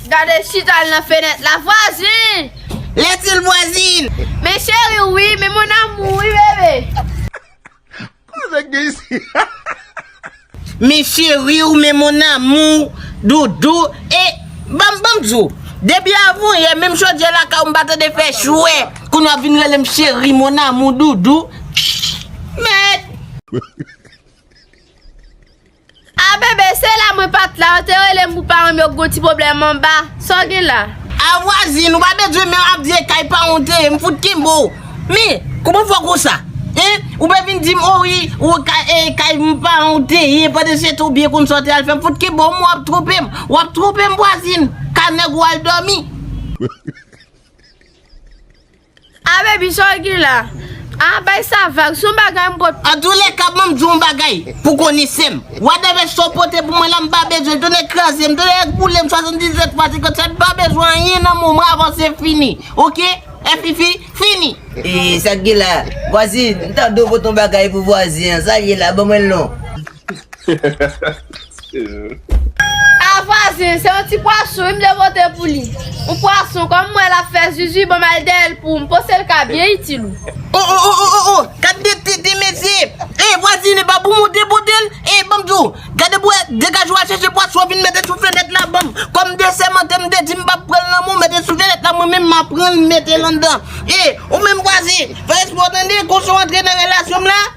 Gade l chita al nan fenèt la vwazin! Lè di l vwazin! Men cheri w wi, men mon amour wi bebe! Koze k gen isi la? Men cheri w, men mon amour, doudou e ban m di w, depi avanyè menm chodyè lakay w m pa tande fè chwè, kounye a w vin rele m cheri, mon amour, doudou. Mèd! Ah bebe se la mwen pat la ou te relem pou paranm yo gon ti problème anba, sa w gen la? Ah vwazin ou pa bezwen menm ap di e kay paran w te ye m fout kenbe w men kouman fè w konsa hein ou pa vin dim oh wi ou e kay paran w te ye pandan se tan w byen konn sa w te al fè m fout kenbe w m wap twonpe m wap twonpe m vwazin ka nèg ou al domi. Ah baby sa w gen la. Ah bay sa vag, son bagay m pot pou. Antoulèka ban m di w yon bagay pou konesè m. Whatever sa w pote pou mwen la m pa bezwen l. Tonnè kraze m, tonnè ak boule m 77 fwa 57 m pa bezwen anyen nan men w mwen avanse fini ok FiFi fini. Eee sa k gen la. Vwazin m tande w pot yon bagay pou vwazin an, sa l ye la ban mwen l non. Ah vwazen se yon ti pwason wi m te vote pou li yon pwason kom m wè lap fè zuzu banm al dèyè l poum pose l ka byen itil ou. Oh oh oh oh oh gad de tete de mesye eh vwazin epa pou mou te potel eh banm di w gade bwe degaj wa chèche pwason vin mete sou fenèt la banm kòm de sèmante m te di m pap pranl nan men w mete sou fenèt la mwen menm ma pranl m metel andan eh ou menm vwazin fè espò tande konsa w antre nan relasyon m la.